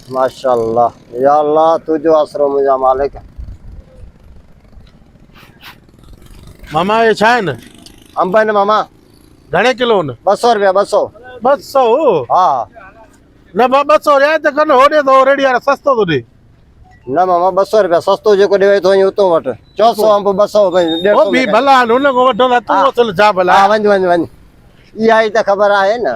ماشاءالله يا الله تنهنجو آسرو منهنجا مالڪ. ماما اهي ڇا آهن؟ انب آهن ماما. گهڻي ڪلو آهن؟ ٻه سؤ روپيا ٻه سؤ. ٻه سؤ؟ ها. نه ڀا ٻه سؤ رعايت ڪن هو ڏي ٿو ريڙهي وارو سستو ٿو ڏي. نه ماما ٻه سؤ روپيا سستو جيڪو ڏيئي ٿو ائين اتو وٺ چؤ سؤ انب ٻه سؤ ڏيڍ سؤ. هو ڀي ڀلا آهن هن کان وٺندا تون اصل ڇا ڀلا. ها وڃ وڃ وڃ اها ئي ته خبر آهي نه.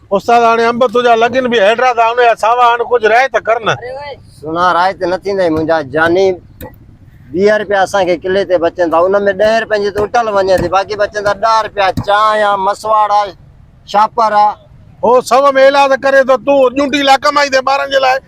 استاد هاڻي انب تنهنجا لڳن به هيڊرا ٿا انهيا ساوا هن ڪجهه رائي ته ڪر نه. سنا رائي ته نه ٿيندئي منهنجا جاني ويهه رپيا اسان کي ڪلي تي بچن ٿا ان ۾ ڏهين رپين جي ته اٽل وڃي ٿي باقي بچن ٿا ڏهه رپيا چانهه آ مسواڙ آ شاپر آ. هو سو ۾ ايلاز ڪري ته تون ڄونٽي لاء ڪمائيندين ٻارن جي لاء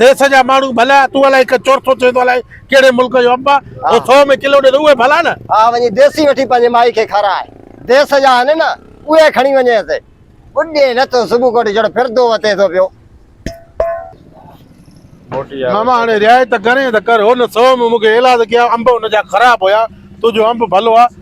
ديس جا ماڻهو ڀلا تون الائي هڪ چورٿو چوين ٿو الائي ڪهڙي ملڪ جو انب آهي او 100 ۾ ڪلو ڏي ته اهي ڀلا نه ها وڃي ديسي وٺي پنهنجي مائي کي کارائي ديس جا آهن نه اهي کڻي وڃيس ٻڏي نه ته صبح ڪوٽ جڙ ڦردو وتي ٿو پيو. ماما هاڻي رعايت ڪرين ته ڪر هن 100 ۾ مون کي ايلاز ڪيا انب هن جا خراب هيا تنهنجو انب ڀلو آهي.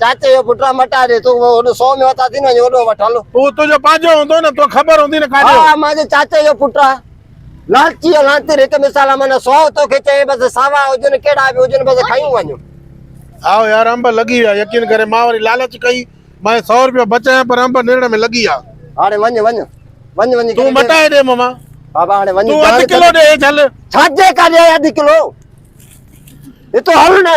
چاچي جو پٽ مٽا ڏي تون هوڏو سو ۾ وتا ٿي نه وڃ هوڏو وٺ هل هو تنهنجو پنهنجو هوندو نه تو خبر هوندي نه ڪاڏي ها مانجي چاچي جو پٽ آ لالچي ۽ لانتير هڪ مثال آ معنيٰ سو توکي چئي بس ساوا هجن ڪهڙا به هجن بس کيون وڃ هائو يار انب لڳي ويا يقين ڪري مان وري لالچ ڪئي مان سو روپيا بچايا پر انب نرڙ ۾ لڳي ويا هاڻي وڃ وڃ وڃ وڃي تون مٽائي ڏي مما بابا هاڻي وڃ تون اڌ ڪلو ڏي هيٺ هل ڇاجي ڪاڏي اڌ ڪلو هتو هل نه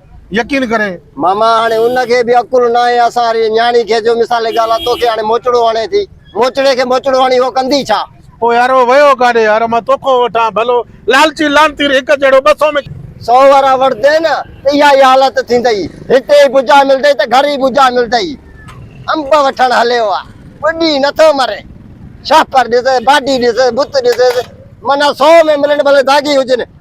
يقين ڪري. ماما هاڻي ان کي به عقل ناهي اسان واري نياڻي کي جو مثال ڳالهه توکي هاڻي موچڙو هڻي ٿي موچڙي کي موچڙو هڻي هو ڪندي ڇا. او يار او ويو ڪاڏي يار مان توکو وٺان ڀلو لالچي لعنتي هڪ جهڙو ٻه سو ۾. سو ورهه وڙهندين ته اها ئي حالت ٿيندئي هتي ئي ٻجها ملندئي ته گهر ئي ٻجها ملندئي انب وٺڻ هليو آ ٻڏي نٿو مري شهپر ڏسيس باڊي ڏسيس بت ڏسيس معنيٰ سو ۾ ملن ڀلي داغي هجن.